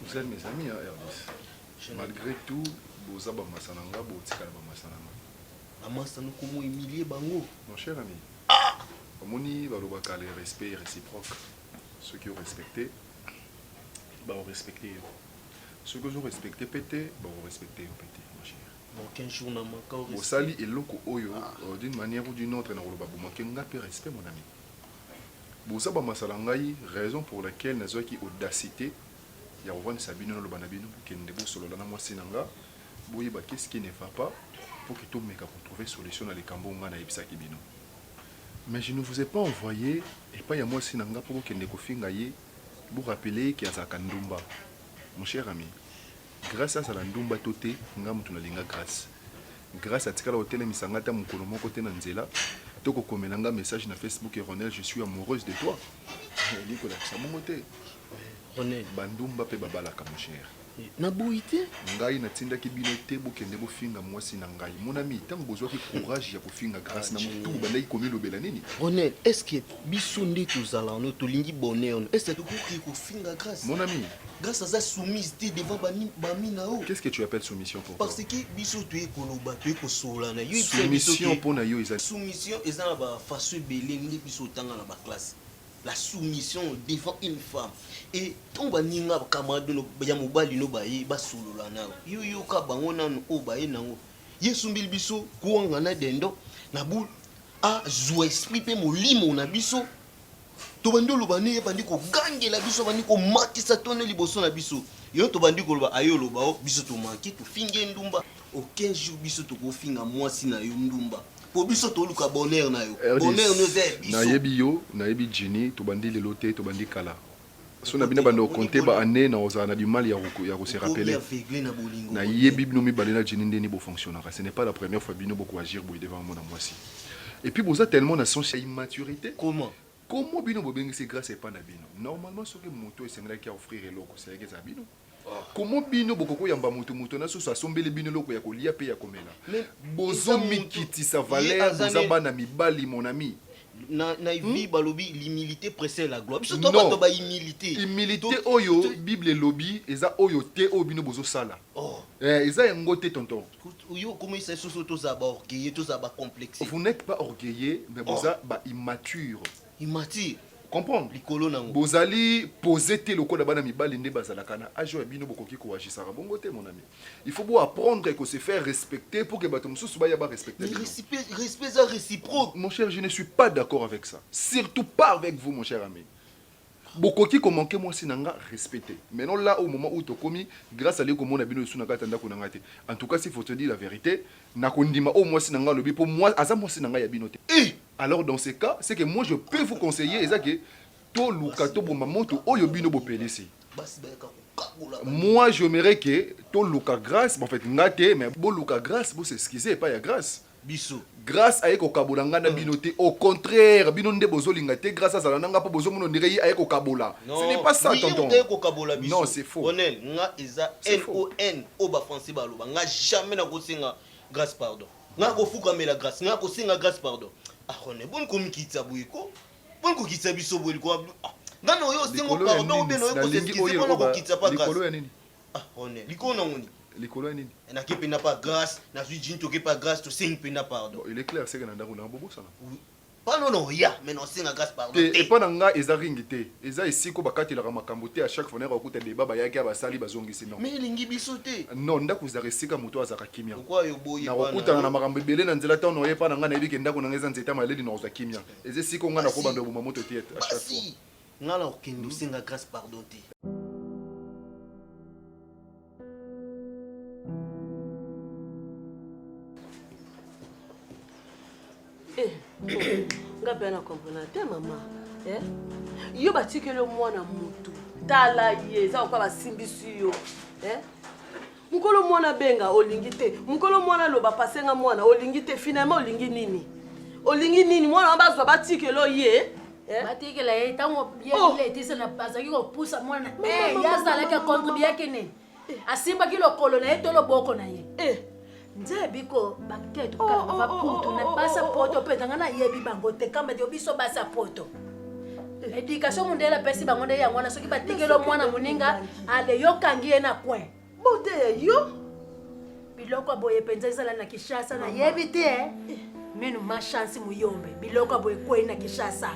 Vous êtes mes amis, hein, Hervis. Malgré tout, boza bamasa na nga botikala bamasa na nga bamasa nokomo emilie bango mon cher ami ah! omoni balobaka le respect réciproque ceux qui ont respecté baorespecte yo soki ozorespecte mpe te bakorespecte yo mpe te mon cher Bosali eloko oyo d'une manière ou d'une autre nakoloba bo manque nga pe respect mon ami. Boza ba masala ngai raison pour laquelle nazuaki audacite ya kovandisa bino naloba na bino bokende bosolola na mwasi na nga boyeba qu'est ce qui ne va pas pour que tomeka ko trouver solution na likambo oyo nga nayebisaki bino. Mais je ne vous ai pas envoye epayi ya mwasi na nga po bokende kofinga ye bo rappeler ye que azalaka ndumba mon cher ami. Grace azala ndumba to te nga mutu na linga grace grace atikala kotelemisa nga ata mukolo moko te na nzela to kokomela nga message na Facebook Ronel je suis amoureuse de toi elingi kolakisa bongo te Ronel ba ndumba pe babalaka mon cher na boyi te ngai natindaki bino te bokende bofinga mwasi na ngai mon ami ntango bozwaki courage ya kofinga grace na mutu bandaki komilobela nini Ronel est-ce que biso nde tozala wana tolingi bonheur est ce que tokoki kofinga grâce mon ami grâce aza soumise te devant bami na yo qu'est ce que tu appelles soumission pour parce que biso toye koloba toye kosolana yo soumission mpo na yo eza soumission eza na bafaçon ebele nde biso otanga na baklasse la soumission devant une femme et ntango baninga bacamarade no ya mobali no baye basolola na yo yoyoka bango nano oyo baye nango ye esumbili biso kuanga na dendo na bule azwa esprit mpe molimo na biso tobandi oloba nini ebandi kogangela biso abandi komatisa tono liboso na biso yo tobandi koloba aye oloba o oh, biso tomaki tofingi ye ndumba aucun jour biso tokofinga mwasi na yo ndumba mpo biso toluka bonheur na yo bonheur no eza ya biso nayebi yo nayebi jini tobandi lelo te tobandi kala Soki na bino ebanda ko compter ba annees nakozala na du mal ya ko se rappeler. Nayebi bino mibale na Djinny ndeni bo fonctionnaka, ce n'est pas la première fois bino boko agir boye devant mwana mwasi. Et puis boza tellement na sens ya immaturite. Comment bino bobengisi Grace epa na bino? Normalement soki mutu oyo esengelaki a offrir eloko esengelaki ezala bino. Comment bino bokoki koyamba mutu moto na susu asombeli bino eloko ya kolia pe ya komela? Bozo mikitisa valeur boza bana mibali mon ami. Na na vie balobi l'humilite precede la gloire biso toza batu ya ba humilite. Humilite oyo bible elobi eza oyo te oyo bino bozo sala eh eza yango te tonton. Yo okomisa biso toza ba orgueilleux toza ba complexe. Vous n'etes pas orgueilleux mais boza ba immature. Imati comprendre likolo nango. Bozali pose te lokola bana mibali nde bazalaka na age ya bino bokoki ko agisaka bongo te mon ami. Il faut bo apprendre ko se faire respecter pour que bato mosusu baya ba respecter bino. Respect respect eza reciproque. Mon cher je ne suis pas d'accord avec ça. Surtout pas avec vous mon cher ami. Bokoki ko manquer mwasi na nga respect te. Maintenant là au moment où tokomi grâce à leko mona bino sous na kata ndako na nga te. En tout cas s'il faut te dire la vérité, na ko ndima o mwasi na nga lobi po moi aza mwasi na nga ya bino te. Eh! Alors dans ce cas ce que moi je peux vous conseiller eza que toluka toboma moto oyo bino bopelisi moi j'aimerais que toluka grace bon, en fait nga te mais boluka grace bo s'excuser epai ya grace biso grace aye kokabola ngai na bino te au contraire bino nde bozolinga te grace azala na ngai mpo bozomona ondire ye aye kokabola ce n'est pas ça tonton kokabola biso non c'est faux onel nga eza non o bafrançais baloba nga jamais nakosenga grace pardon Nga ko fukamela grace nga ko senga grace pardon ah rone boni ko mikitisa boye ko boni ko kitisa biso boye liko ah nga na oyo sengo pardon ou bien na oyo ko s'excuser pona ko kitisa pa grace likolo ya nini ah rone likolo na ngoni likolo ya nini eh, nake mpenza pa grâce nazwi jini toke pa grâce tosengi mpenza pardon il est clair seke na ndako na bobosana Pano na oya mais na osenga grace pardon te. Te epa na nga eza ring te eza esika oyo bakatelaka makambo te à chaque fois nayaka kokuta debat bayaki awa basali bazongisi non. Mais elingi biso te. Non ndaku ezalaka esika mutu oyo azalaka kimia Pourquoi yo oboyi epa na yo? nakokutana na makambo ebele na nzela temps na oya epa na nga nayebi ke ndaku na nga eza nzete ya maleli nakozwa kimia eza esika oyo nga nako banda koboma moto te à chaque fois. Basi nga na kokende osenga grace pardon te. Eh, nga mpe na comprendre te mama eh? yo batikeli yo mwana motu tala ye eza koka basimbisi yo eh? mokolo mwana benga olingi te mokolo mwana loba pasenga mwana olingi te finalement olingi nini olingi nini mwana wana bazwa batikelo ye Eh? batikela ye ntango biletisa na azalaki kopusa mwana eh, ye azalaki akontribuyaki ne eh. asimbaki lokolo na ye to loboko na ye nzambe biko bakite tokala oh, oh, baputu oh, na basa poto mpenza ngai nayebi bango te kamba te biso basa poto edikatio mondele apesi bango nde yango wana soki batikeli mwana moninga ale yokangi ye na coin Bote ya yo biloko ya boye mpenza ezala na Kinshasa nayebi te eh. minu ma chance muyombe biloko ya boye ekwei na Kinshasa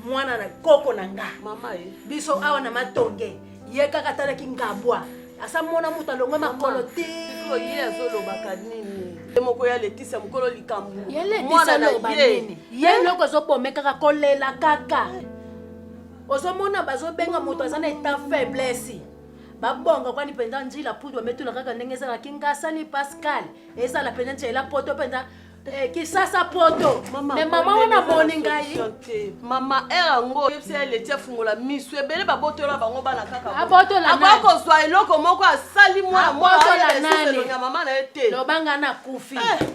mwana na koko na nga mama eh. biso awa na matonge ye kaka atalaki ngabwa asa mona moto alongwe makolo te ye azolobaka nini ye moko ya letisa mokolo likambo mwana na ye ye eloko ezobome kaka kolela kaka ozomona bazobenga moto aza na eta faiblesse babonga kwani mpenza njila pudu ametula kaka ndenge ezala kingasani pascal ezala mpenza ntiela poto mpenza eh, kisasa poto me mama wana moni ngai mama ere yango oyebisa ye leti afungola misu ebele babotola bango bana kakaakoya kozwa eloko moko asali mwana mwana mama na ye te lobanga na kufi eh.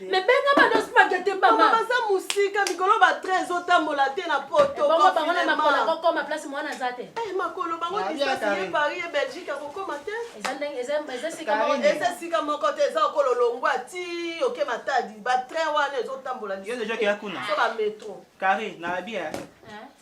me benga ba dos makete mama baza musika mikolo ba train ezotambola te na poto bongo bango na makolo akokoma place mwana aza te eh, makolo bango distance ye paris ye belgique akokoma te eza sika moko te eza okolo longwa ti oke matadi ba train wana ezotambola liso ba metro carré na abia eh?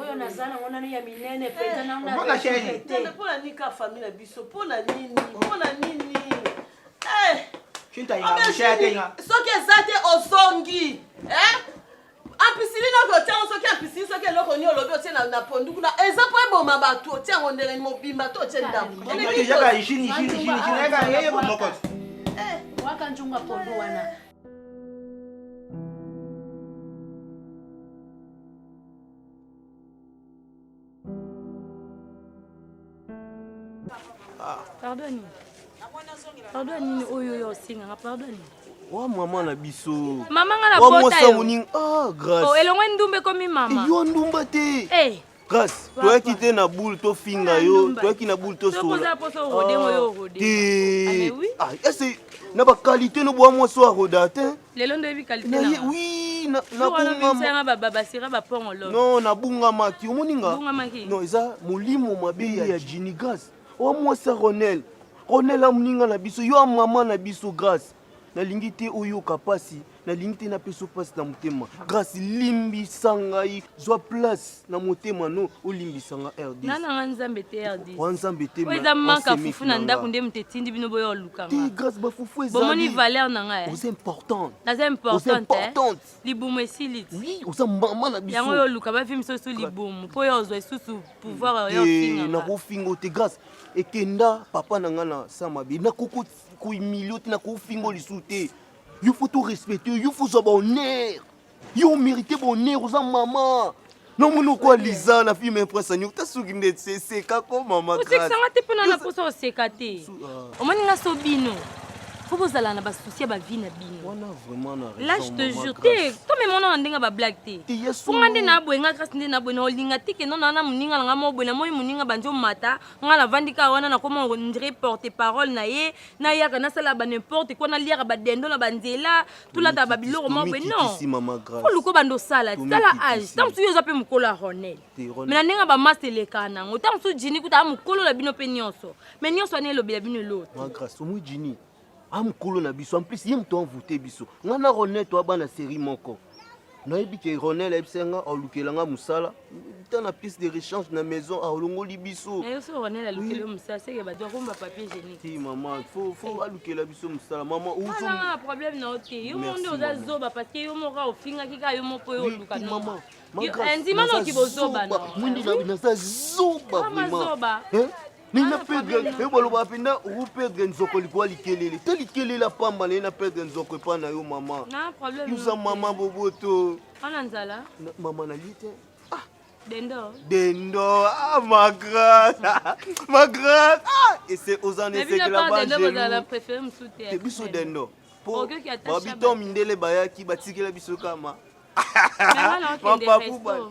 oyo naza nango nanu ya minene mpenza nangompona nini ka famille na biso mpona nini mpona nini soki eza te ozongi ampisiline oke otiango soki ampisiline soki eloko nini olobi otie na pondu kuna eza mpo eboma bato otiango ndenge mobimba to otie ndambo waka njunga pondu wana pardon nini pardon ya nini oyo oyo osengaka pardon nini wa mama na biso mama nga na bota yo elongo ndumba ekomi mama yo ndumba te hey. Eh. Grace, toyaki te na boule tofinga ah, yo, toyaki na boule tosola. Te. Ah, ese na ba qualité no bwa mwa soir oda te. Lelo ndo yebi qualité na. Oui, na na bunga ma. Ba ba basira ba pongo lo. Non, na bunga ma ki omoni nga. Bunga ma ki. Non, eza molimo mabe ya Ginny Grace. Wa mwa sa Ronel. Ronel amuninga na biso, yo mama na biso Grace. nalingi te oyoka mpasi nalingi te napesa mpasi na motema grâce limbisa ngai zwa place na motema no olimbisa nga rdnanga nzambe te rdwa nzambe te eza manka fufu na ndako nde moto etindi bino boya olukanga grâce bafufu ezabomoni valeur na ngai oza importante naza importante libumu esili ti oza mama na biso yango yo oluka bavi misusu libumu mpo yo ozwa lisusu pouvoir oyo ofinga nakofinga te grâce ekenda papa na ngai na samabe nakokoti ko humilier te na ko fingo lisusu te yo faut to respecter yo faut zwa bonheur yo mérite bonheur oza mama nomoni okwa liza na filme prince anio tasuki nde seseka ko mama osekisanga te mpona na posa oseka te ah. omoni nga so bino fo bozala na basusi ya bavi na bino lage te jure te tomemona na ndenge bablague te mpo nga nde naboye nga grâce nde naboye na olinga te kende na wana moninga na nga moko boye namoni moninga bandi omata nga navandi kaka wana nakoma ondire porte parole na ye nayaka nasalaka ba n'importe quoi naliaka badendo na banzela tolataka babiloko moko boye non oluka obanda osala tala age ntango mosusu yo oza mpe mokolo ya ronel me na ndenge bamasta elekaka na yango ntango mosusu jini kuta a mokolo na bino mpe nyonso me nyonso wana elobela bino eloti amukolo na biso en plus ye moto envoute biso nga na ronel toa bana série moko nayebi ke ronel ayebisa nga alukela nga mosala ta na pièce de rechange na maison alongoli biso mama fo alukela biso mosala mama problème na yo te yo moko nde oza zoba parce que yo moko ofingaki kaka yo moko yo oluka mama ndima noki bozoba mwindi naza zoba vraiment nini na pedre yo balobaka mpenza oku pedre nzoko likuwa likelele to likelele apamba na ye na pedre nzoko epai na yo mama yuza mama boboto ana nzala mama na ye te ah. Dendo. Dendo. Ah, ma grande. ma grande. Ah, et c'est aux années c'est là-bas. Dendo, vous avez préféré me soutenir. C'est biso Dendo. Pour Babito Mindele Bayaki, Batikela Biso Kama. Papa Pouba.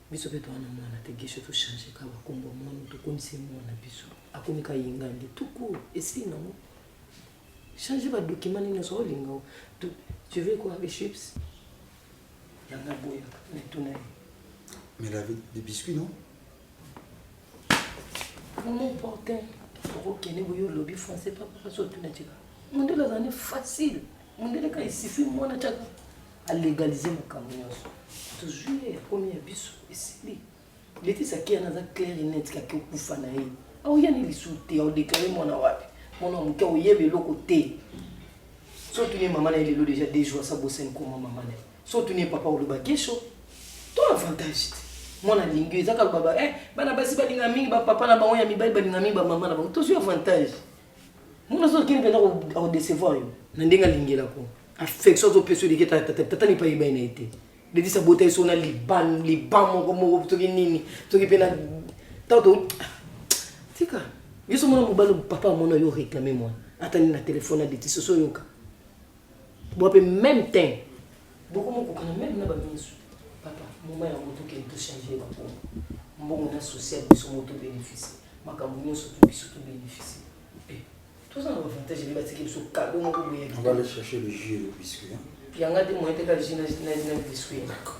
biso pe toza na mwana te guesho to change ka ba kombo ya mwana tokomisi ye mwana biso akomi ka yingandi tout court esili nango change ba document nini ozo olinga o tu tu veux quoi les chips yanga boya mais tuna ye Mais elle avait des biscuits, non mama opportun okokende boye olobi français papa kasi otuna tika mondele azali facile mondele ka esifi mwana caka a legaliser makambo nyonso tozwi ye akomi ya biso esili letisi akeya naza claire net kaki okufa na ye aoyani lisusu te aodeklare mwana wapi mwana moke oyeba eloko te so otuni ye mama na ye lelo deja deux jours asa bosani koma mama na ye so otuni ye papa oloba kesho to avantage te mwana alingi ezaka lobaba eh, bana basi balinga mingi bapapa na bango ya mibali balinga mingi bamama na bango tozwi avantage Muna zo kini penda ko décevoir yo. Na ndenge alingela ko. Affection zo peso dike tata tata ni pa yeba ina ete. Dedi sa bota iso na liban liban moko moko toki nini toki pena tato tika biso mona mobali papa mona yo réclamer moi ata ni na téléphone na deti soso yoka Bon pe meme teint. Boko mo kokana meme na ba misu. Papa, moment ya moto kende to changer ba kombo. Mbongo na social biso mo to benefice. Makambo nionso to biso to benefice. Eh, to za na avantage nde ba tiki biso cadeau moko boye ya kitoko. On va aller chercher le jus et le biscuit. Ya nga te moyen te ka jus na na na biscuit. D'accord.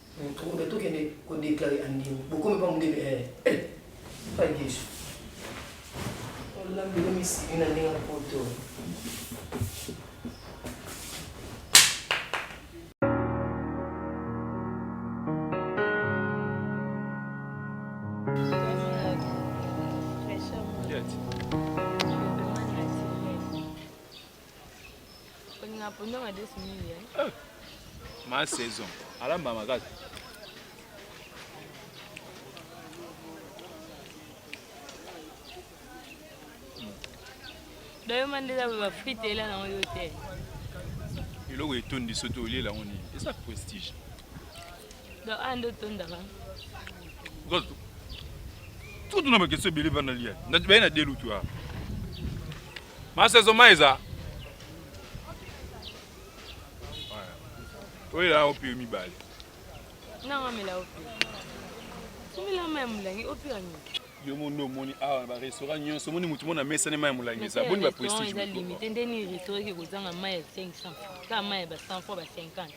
Mutumbe tokende ko declare andimi bokomi pa mundele eh eh pa Yesu olambi yo misili na ndenge poto olinga pondo madesu mingi eh? eh, ma saison alamba makasi dayoma nde eza ba frite ela nango yo te eloko etondi soki olie lango nini eza prestige donc aya nde otondaka tutuna bakestion ebele bana lia baye na delutu aa Masa ezo mai eza. Oyo la opi mibale. Na ngamela opi. Sumila mai mulangi opi anyo. yo mondo omoni awa na barestaurant nyonso omoni motu mona mesani mai ya molangi eza boni baprestige limite nde nini restaurant eke kozanga mai ya 500 kaka mai ya ba 100 fois ba 50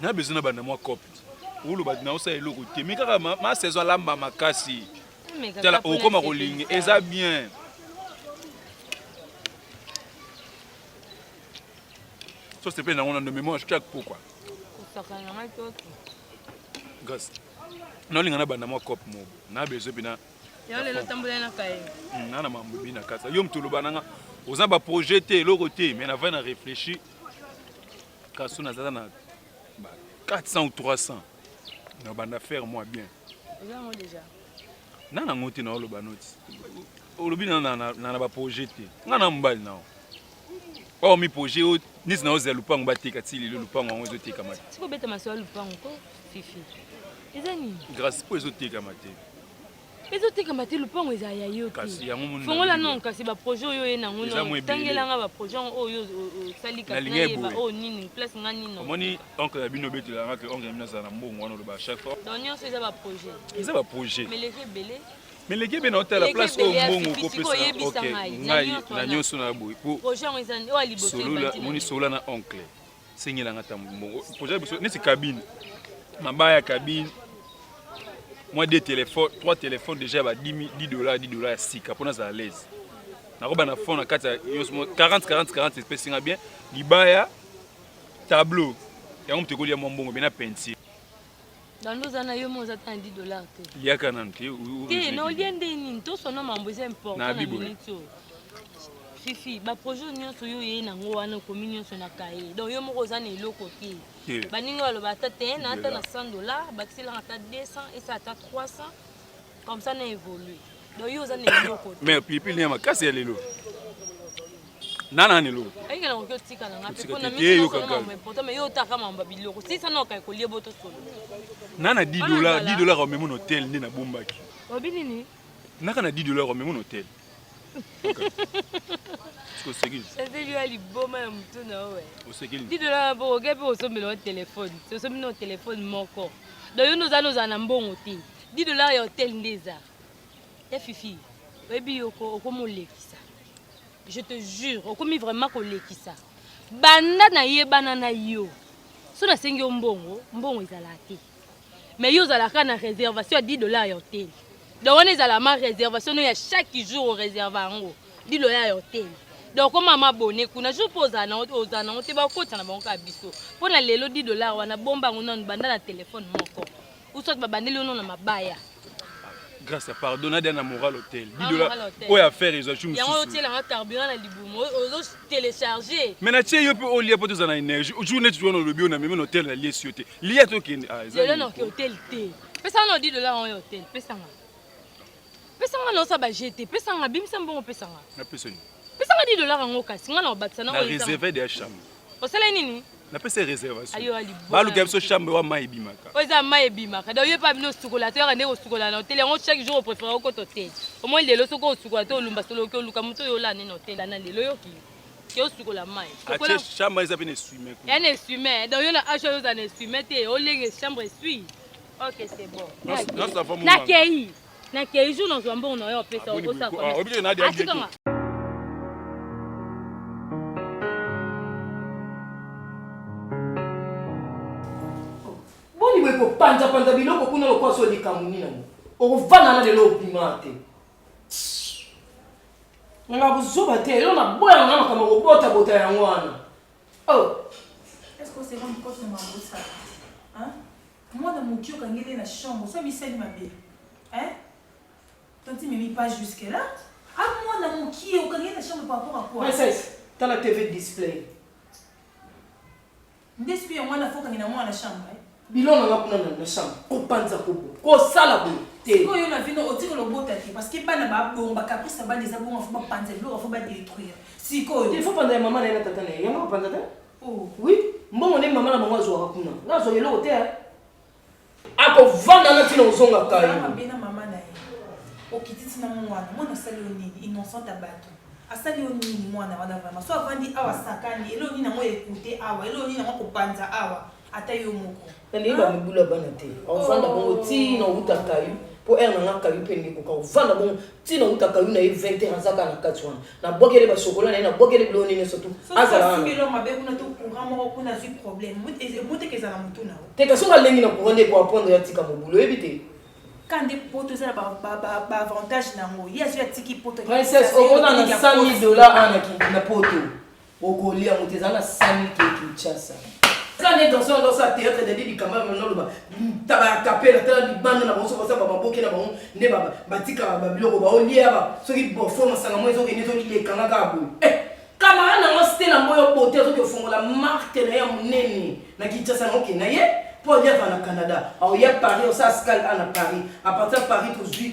na besoin na banda mwa cope oloba naosala eloko te me kaka ma saison alamba makasi tala okoma kolinga eza bien so sepele nango nando memo ashaki akpokwa gas naolinga na banda mwa cope moko na besoin mpena nana mambo ebina kasa yo moto oloba nanga oza baprojet te eloko te me na vai na réfléchir kaso nazala na 400 ou 300 na banda faire moi bien na nango te naoloba noti olobi na baprojet te ngai na mobali nao oyo miprojet oyo nisi naozela lupango bateka ti lelo lupango yango ezotekama te sikobeta maso ya lupango ko fifi eza nini grâce mpo ezotekama te ezotekama te lopango eza ya yo te fongola non kasi baprojet oyo oye nango tangelanga baprojet yango oyo osali kasinayeba oyo nini place nga nini omoni oncle ya bino obetelanga ke oncle ya bino azala na mbongo wana oloba chaque fois donc nyonso eza baprojet eza baprojet meleki ebele meleki ebele otala place oyo mbongo okopesa ngai na nyonso na boye po omoni solola na oncle sengela nga tambu mbongo projet biso neti cabine mabaya cabine mwa de téléphone trois téléphone déjà ya ba 10 dollars 10 dollars ya sika mpo nazala laise nakoba na fond na kati ya nyonso 40 40 40 espèce nga bien libaya tableau yango moto ekolia mwa mbongo bena peinture Dando oza na yo mo oza ta na 10 dollars te. Liaka nanu te. Te na olie nde nini to sona mambo eza important na minute oyo. Fifi ba projet nyonso yo yeye nango wana okomi nyonso na kaye donc yo moko oza na eloko te baninga baloba ata te na ata na 100 dollars bakiselaka ata 200 esa ata 300 Comme ça na évolue. Donc yo oza na eloko. Mais pilipili ya makasi ya lelo. Nana ni lelo. Ayika na kokyo tika na ngapi pona mimi yo kaka. Mais pourtant mais yo taka mamba biloko. Si ça na ka kolie boto solo. Nana 10 dollars, 10 dollars au même hôtel ni na bombaki. Obi nini? Naka na 10 dollars au même hôtel. oseki yo liboma ya motu na yo didona na bongo oke mpe osombela yo telefone osombi na telefone moko don yo noza nozala na mbongo te di dollar ya hotel nde eza ya fifi oyebi yoko okomi olekisa je te jure okomi vraiment kolekisa banda nayebana na yo so nasengi yo mbongo mbongo ezala te mais yo ozalaka na réservation ya 10 dollars ya hotel donc wana ezala ma réservation no ya chaque jour oreserva yango 10 dollars ya hotel donc koma mabone kuna jour mpo ozala nango ozala nango te bakotisa na bango kaka biso mpo na lelo 10 dollars wana bomba yango nanu banda na telefone moko usot babandeli yo no na mabaya grâce à pardon nadia na moral hotel bidola oyo affaire ezwa chu mosusu yango otiela nga carburant na libumu ozo télécharger mais na tie yo pe olia po toza na énergie jour neti wana olobi yo na meme na hotel na liesi yo te lia tokende ah eza lelo na oke hotel te pesa nga odi dola yango ya hotel pesa nga pesa nga na osa ba jete pesa nga bimisa mbongo pesa nga na pesa ni pesa nga di dola yango kasi nga na obakisa na oyo na réserve de chambre Osala nini? napesa ye reservationbaluka biso chambre wa mai ebimaka oyo eza mai ebimaka donc yo epa bino osukola te yaka nde kosukola na hotel yango chaque jour opréféré okota hotel omoi lelo soki osukola te olumba solo oki oluka moto oyo olaa nde na hotel ana lelo yoki ke osukola mai chambre eza mpe na esui mai ya na esui mai donc yo na age oyo ozala na esui mai te olenge chambre esui ok c'est bon nakei Na kei jour na zwa mbongo na yo opesa o sa ko. Oyebi ke na dia dia. Boni boye kopanza panza biloko kuna lokola so likambo nini yango okofanda na lelo obima te nanga kozoba te yo naboya nga makambo kobotabota yango wana oh. Mwana mukie okangeli ye na chambre osi amisali mabe hein tanti mimi pas jusque là a ah, mwana mukie okangeli na chambre par rapport à quoi princesse tala tv display nde soki ya mwana fokangi na mwana na chambre eh? bilona nga kuna na chambre kopanza kobo kosala boye sikoyo na vino otiki lobota te parce que bana babongo bakaprisa bana eza bongo fo bapanza biloko fo badetruire sikoyo il faut panza ya mama na ye na tata na ye yango bapanza te Oh oui, mbongo nde mama na bango azwaka kuna. Nga azwa eloko te. Eh. Akovanda na tina ozonga kayo. Mama bena mama na ye. Okiti tina mwana, mwana sali yo nini? Innocent à bato. asali yo nini mwana wana vraiment so avandi awa sakani eloo nini yango ekute awa eloo nini yango kopanza awa ata yo moko naleli bamibulu ya bana te ovanda oh. bongo ti na outa kayu mpo ere nanga kayu mpe ndeko ka ovanda bongo ti na outa kayu na ye 20 heure aza kaka na kati wana nabwakele basokola na ye nabwakele biloko nini sotu te kasi onga alengi na courant nde ekoapondre atika mobulu oyebi te kande poto eza na baavantage na yango ye azwi atiki poto omona na 100 000 dollar ana na poto Okolia yango te, ezala na 5000 ke Kinshasa. Eza nde danse wana danse ya théâtre dadi likamba yango naloba taba ya kapela tala libanda na bango soki basala baboke na bango nde batikaka babiloko baolia ba soki bofo masanga mo ezokende ezolekanga kaka boye eh, kamara na ngo stela mboyo bote azoki ofongola marke na ye ya monene na kinshasa na oke na ye mpo aliaka na canada aoya paris osala scal a na paris apartir ya paris tozwi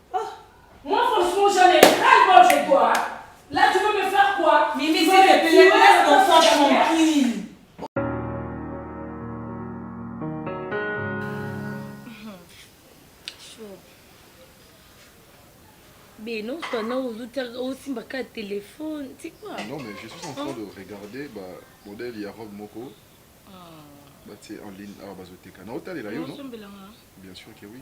Beno, tana osimba ka telefone ti quoi non mais je suis en train de regarder ba modèle ya robe moko ah. batie en ligne awa ah, bazoteka naotalela yo no bien sûr que oui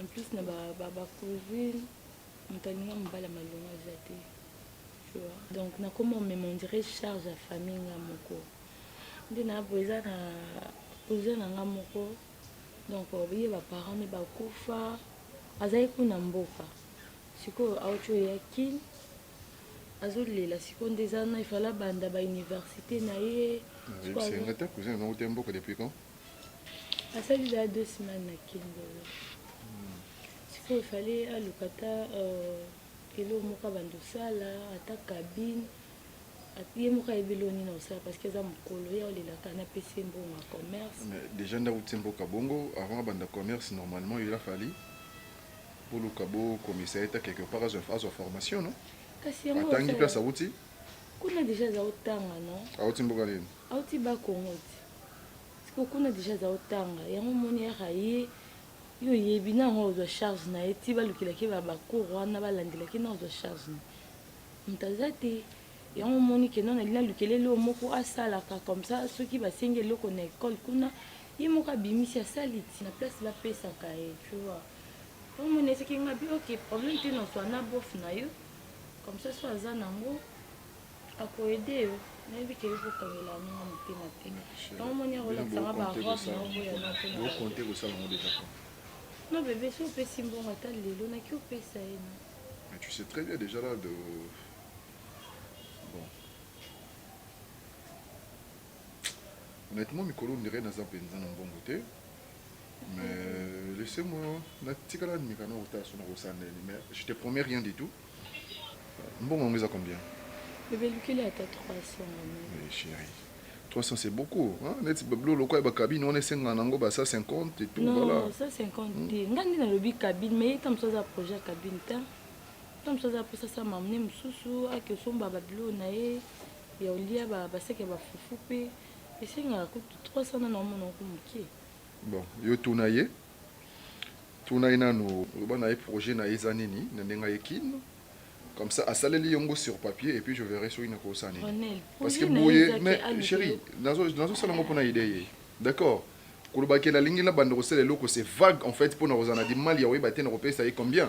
en plus na ba ba, ba cousine moto alinga mobali ya malonga eza te tu vois donc nakoma omema ondire charge ya famille nga moko nde na boye eza na cousin na nga moko donc ye baparent ne bakufa azalaki kuna mboka sikoyo auti oya kin azolela sikoyo nde eza na ifala banda bauniversité na ye sikoyo azo- Senga ta cousin na uta mboka depuis quand asali za deux semaines na kingo sikoyo fale aluka ata euh, eloko moko abanda osala ata kabine ye moko ayebi eloko nini akosala parce que aza mokolo ye aolelaka na pesi mbongo ya commerce déjà ndako ti mboka bongo avant abanda commerce normalement il a fali boluka bokomisa ye ta quelque part azwa formation no kasi yango atangi place awuti kuna déjà aza otanga no awuti mboka nini Auti bas congo ti sikoyo kuna dejà aza otanga yango omoni heure aye yo oyebi na yango ozwa charge na ye ti balukelaki ba bacour wana balandelaki na ozwa charge na moto aza te yango omoni keno nali nalukeleli oyo moko asalaka comme ça soki basengi eloko na ekole kuna ye moko abimisi asali ti na place bapesaka ye tu vois yango omoni eseki ngabi ok problème te na ozwa na bof na yo comme ça so aza nango ako aider yo nayebi ke yoko kangela yango na motema te yango moni akolakisa nga ba robe na oboya na mpe bo compte kosala yango deja compte non bebe so opesi mbongo ata lelo naki opesa ye na mais tu sais très bien déjà là de bon honnêtement mikolo ondire naza mpenza na mbongo te mais laissez moi natikala nimeka na kotala so nakosala ndeni mais je te promets rien du tout Mbongo yango eza combien? Bebe lukeli ata 300 mami. Oui chérie. 300 c'est beaucoup hein neti bablo lokola ba cabine wana esenga nango ba 150 et tout non, voilà. Non 150 te. Nga nde nalobi cabine mais ye tamusu aza projet cabine ta. Tamusu aza posa sa mamne mususu ake osomba bablo na ye ya olia ba baseke ba fufu pe esengaka kutu 300 na na mona ko mokie. Bon, yo tuna ye. Tuna ye nanu loba naye projet naye eza nini na ndenge aye kin comme ça asaleli yo ngo sur papier et puis je verrai soki nakoki kosala nini parce que boye mais cheri nazo sala ngo pona idee ye d'accord koloba ke nalingi nabanda kosala eloko c'est vague en fait pona kozala na du mal ya koyeba te nakopesa ye combien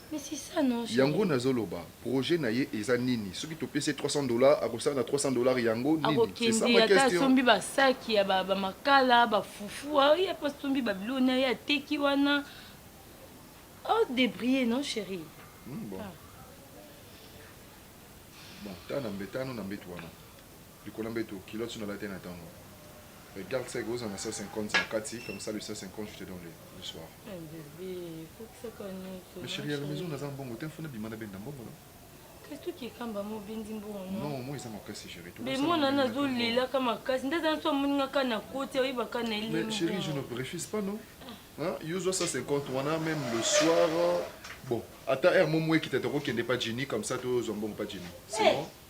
Mais c'est ça non chérie. Yango nazo loba projet naye eza nini soki topesi ye 300 dollars akosala na 300 dollars yango nini c'est ça ma question. Akokende ata asombi ba sac ya ba makala ba fufu aye ape asombi ba biloko naye ateki wana o debriller non chérie. Hum bon. Ah. Bon tala na mbetano na mbetu wana. Likolo ya mbetu culotte nalataki na tango mais garde sec ozala na 150 na kati comme ça le 150 je te donne le le soir mais cherie ya la maison naza na mbongo te il faut nabima nabenda mbongo na Christo Kikamba mo bendi mbongo no. Non, moi eza makasi chérie. Mais moi nana azo lela ka makasi. Ndaza na so moni nga ka na koti oyeba ka na elimo. Mais chérie, je ne refuse pas non. Hein? Yo zo 150 wana même le soir. Bon, ata heure mo moi kitata ko kende pas Jenny comme ça to zo mbongo pas Jenny. C'est eh! bon.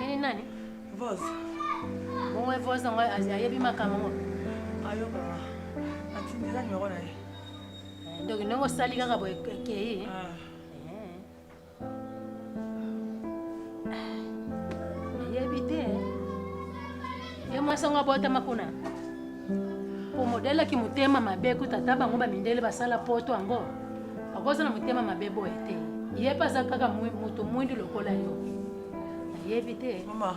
Nini nani? Voz. Bongo voz yango ayebi makambo yango. Ayoka. Atindela nyoko na ye. Eh, ndoki ndenge osali kaka boye ekei. Ah. nayebi te ye mwasi yango abotama kuna po modele ki motema mabe kuta ata bango bamindele basala poto yango akoza na motema mabe boye te ye mpe aza kaka moto mwindu lokola yo nayebi te mama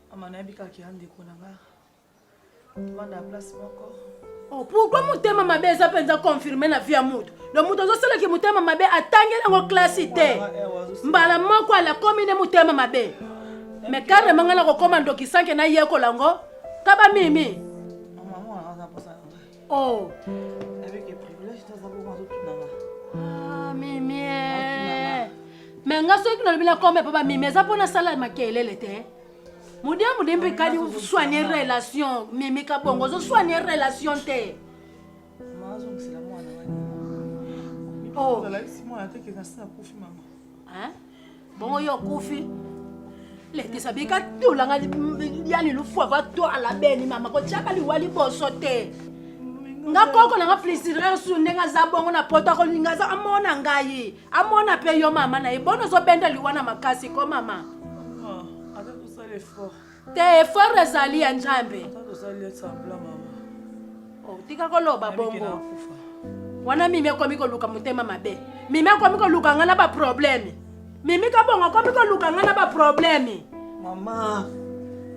Mama nayebi kaka ya ndeko na nga tovanda ya place moko oh, pourkui motema mabe eza mpenza confirme na vie ya moto lo moto azosalaki motema mabe atangeli yango klasi te mbala moko alakomi nde motema mabe me karema ngai nakokoma ndoki sanke nayekola yango kaba mimi Oh. Avec les privilèges, tu as d'abord mazo tunanga. Ah, mimi. Mais nga soki nalobi na kombe papa mimi eza pona sala makelele te. Mudia mudimbi kadi soigner relation mimi kabongo zo soigner relation te. Mazo ngisela mwana wani. Oh. Zala isi mwana te ke na sa kufi mama. Hein? Bongo yo kufi. Lekisa bika tula nga yani lufu ava twala beni mama ko chaka liwali boso te. Nga koko na nga plaisir su ndenga za bongo na poto ko linga za amona ngai. Amona pe yo mama na ye bono zo benda liwana makasi ko mama. Ah, avec ça l'effort. Te effort ezali ya Nzambe. Oh, tika koloba bongo. Wana mimi akomi koluka motema mabe. Mimi akomi koluka nga na ba problème. Mimi kabongo akomi koluka nga na ba problème. Mama,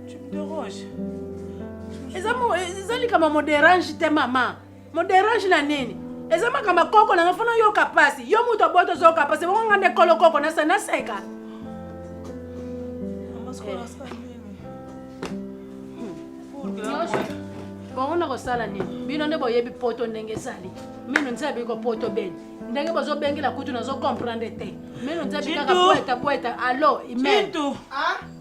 tu me déranges. Eza mo eza likambo mo dérange te mama. moderange na nini eza makambo koko nanga fona oyoka mpasi yo moto oboto ozoyoka mpasi bongo nga nde kolo koko nasa naseka bongo nakosala nini bino nde boyebi poto ndenge ezali mino nzela biko poto beni ndenge bozobengela kutu nazo comprendre te mino nzela bikaka poeta poeta alo imen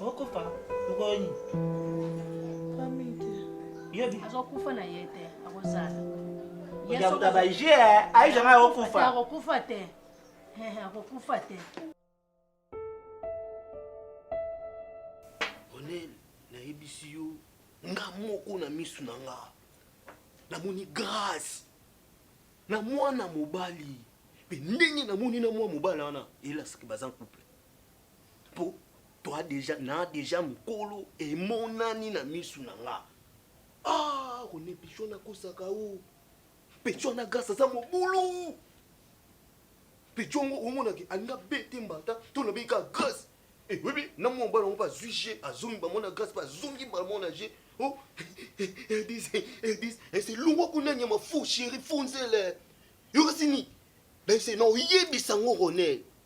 okofa mokolo nini yobi azokufa na ye te akozala yakuta baje aisha ngai akokufa akokufa te akokufa te onel nayebisi yo nga moko na misu na nga namoni grâce na mwana mobali mpe ndenge namoni na mwa mobali wana elasaki baza couple po toi deja na deja mokolo emonani na misu na nga ah rone pichon akosaka o pichon na grâce aza mobulu pichon ngo omonaki alinga bete mbata to nabeyi kaka grâce eh, oyebi na mwa mobali yango mpe azwi je azongi bango na grâce mpe azongi bango na je o edis edis eselungwa kuna nyama fo sheri fo nzele yokasini bese na oyebisa ngo ronel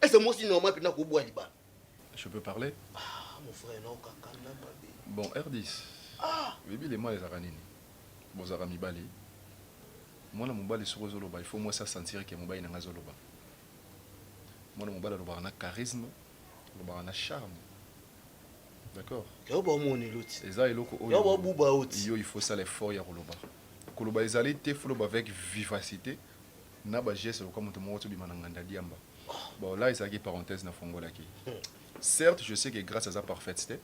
Est ce mosi normal pena ko bwa libala? Je peux parler? Ah mon frère na okaka na mabe. Bon Rdis. Ah. Bibi le mal ezaka nini? Bozaka mibali. Mwana mobali soko zo loba il faut mwasi a sentir que mobali na nga zo loba. Mwana mobali alobaka na charisme, alobaka na charme. D'accord? Yo ba moni loti. Eza eloko oyo. Yo ba buba oti. Yo il faut sala effort ya koloba. Koloba ezali te, faut loba avec vivacité. na ba gestes lokola moto moko azo bima na nganda diamba bon là ezalaki parenthèse na fongolaki certes je sais que Grace aza parfaite te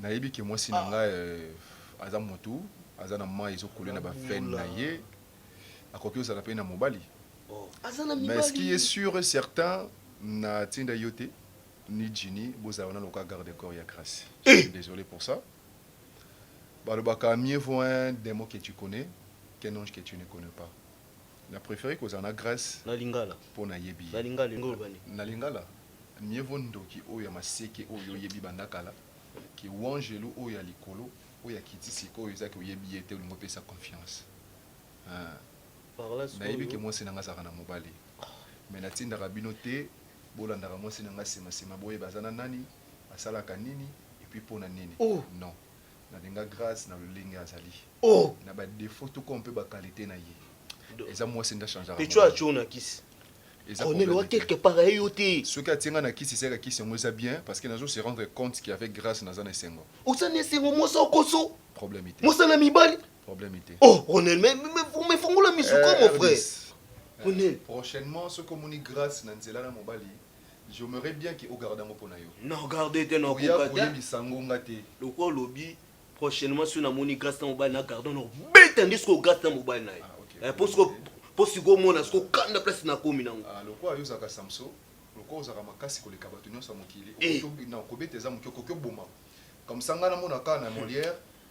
nayebi que mwasi na nga euh, aza motu aza na mayi ezo coule na ba veine na ye akoki ozala pe na mobali aza na mais ce qui mibali est sûr et certain na tinda yo te ni Ginny bozala wana loka garde corps ya Grace je suis désolé pour ça Balobaka mieux vaut un demon que tu connais qu'un ange que tu ne connais pas na prefere kozala na Grace po na yebi ye na lingala mieux vaut ndoki oyo ya maseke oyo yo yebi banda kala que wangelu oyo ya likolo oyo akiti sikoyo eza que oyebi ye te olingi opesa confiance eeh. Na yebi que mwasi na nga azalaka na mobali mais na tindaka bino te bolandaka mwasi na nga sima sima boyeba aza na nani. asalaka nini et puis pona nini oh. non nalinga grace na lolenge azali oh. na ba defaut tout comme pe ba qualité na ye eza mwasi nda change pe tu as tu na kisi Ronel wa quelque part aye yo te soki atie nga na kisi seka kisi yango eza bien parce que nazo se rendre compte que avec grâce naza na esengo oza na esengo mwasi okoso problème te mwasi na mibali problème te oh Ronel mais mais fongola misu ko mon frère Ronel prochainement soki omoni grâce na nzela na mobali J'aimerais bien que o garde yango pona yo. Na garde te na Oya koka te. koyebisa yango nga te. Lokola olobi prochainement soki namoni grace na mobali na garde na kobeta nde sikoyo grace na mobali na ye. Ah, ok. Eh, po sikoyo po sikoyo omona sikoyo kanda place nakomi nango. Ah, lokola yo ozalaka Samson, lokola ozalaka makasi koleka bato nyonso ya mokili, Eh. okoki obi- na kobeta eza moke, okoki oboma. Comme ça nga namona kaka na Molière,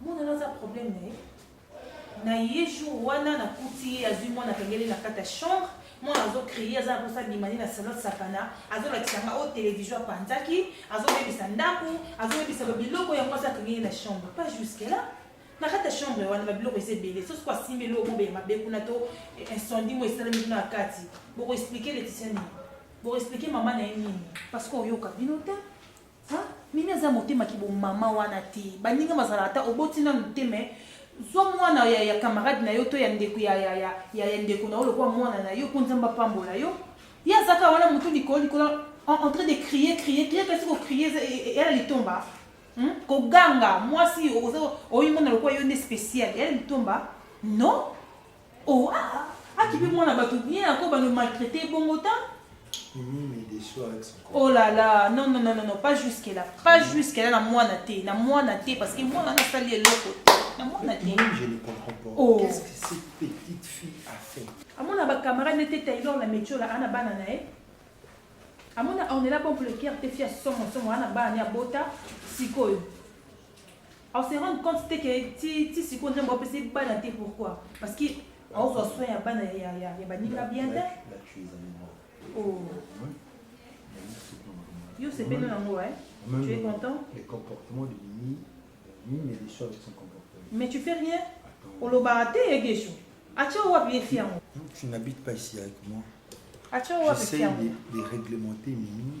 Mwana na za problème na ye na ye jour wana na kuti ye azui mwana akangeli na kati ya chambre mwana azo crie aza na posa abima nde na salon sakana azolakisa nga oyo television apanzaki azobebisa ndako azobebisa babiloko ya mwasi akangeli na chambre pas jusque là na kati ya chambre wana babiloko eza ebele sosi ko asimbi eloko mobe ya mabe kuna to incendie mo esalemi kuna na kati bokoexplike leticia nini bokoexplike mama na ye nini parce que oyoka bino te Hein? Mimi aza motema ki bo maman wana te. Baninga bazalaka ata oboti nanu te mais zwa mwana ya, ya camarade na yo to ya ndeko ya, ya, ya, ya, ya ndeko na yo lokola mwana na yo mpo Nzambe apambola yo. Ye azaka wana motu likolo likolo en, en train de crier crier crier kasi ko crier eza e- e- eya na litomba. Hmm? Koganga mwasi oza oyimona lokola yo nde special eya na litomba. Non? Oh ah ah, akibi mwana batu bien ako ba no maltraiter ye bongo ta. Mimi me déçoit avec son corps. Oh là là, non non non non non, pas jusque là, pas jusque là na mwana te, na mwana te parce que mwana na sali eloko te, na mwana te. Mimi, je ne comprends pas. Oh. Qu'est-ce que cette petite fille a fait amona bacamarade nde te taylor na metiola ana bana na ye amona ornela bon pour le cœur te fia somo somo ana bana ne abota sikoyo au se rendre compte te que ti ti siko nzambe apesi bana te pourquoi parce que aozwa soin ya bana ya ya ya baninga bien te oh yo sepeli nango eh tu es content les comportements de Mimi Mimi est déçu avec son comportement mais tu fais rien olobaka te ye gesho atia wapi ye fi yango tu n'habites pas ici avec moi atia wapi fi yango de réglementer Mimi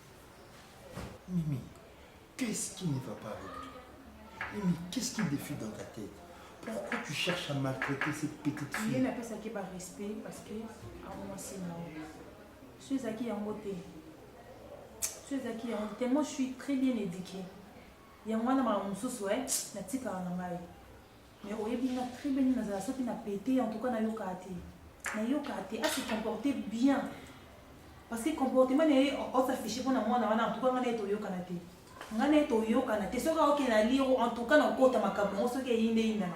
Mimi, qu'est-ce qui ne va pas avec toi Mimi, qu'est-ce qui défie dans ta tête Pourquoi tu cherches à maltraiter cette petite fille Yena pesa ke ba respect parce que awa c'est là. Suis zaki yango te. Suis zaki yango te. Moi je suis très bien éduquée. Yango wana ma mususu eh natika na ngai. Mais oyebi nga très bien nini nazala soki na pete en tout cas nayokaka te nayokaka te ase comporte bien parce que comportement na ye osaffiche mpo na mwana wana en tout cas nga na ye toyokana te nga na ye toyokana te soki aoke na liro en tout cas nakota makambo yango soki eyinde eyindana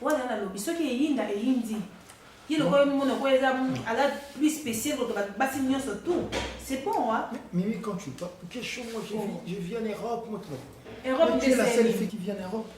wana nalobi soki eyinda eyindi ye lokola mona ko eza ala plus spécial koto basi nyonso tout c'est bon wa mimi quand tu parles quel show moi je vis en Europe moi tu Europe tu es la seule fille qui vient en Europe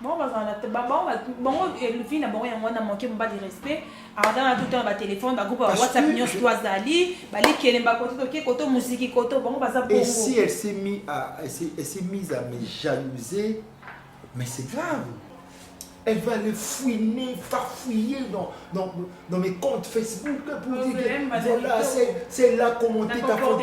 bango bazala na bango bango vie na bango yango wana manke mobali respect aza na tout temps ba téléphone ba groupe whatsapp nyonso to azali balikelemba koto toke koto muziki koto bango baza bongo si elle s'est mis à elle s'est mise à me jalouser mais c'est grave elle va le fouiner, farfouiller dans, dans, dans mes comptes Facebook pour dire que voilà, c'est là comment t'es ta photo.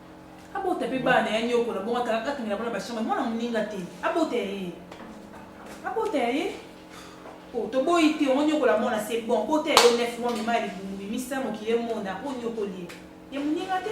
abota pe bana ya niokola bongo akangela bana bashamba mwana moninga te abota ya ye abota ya ye oh, toboyi te ongo niokola mwana se bon bota ya yo nef mwa mema ya libumu bimisa mokili emona po niokoli ye ye moninga te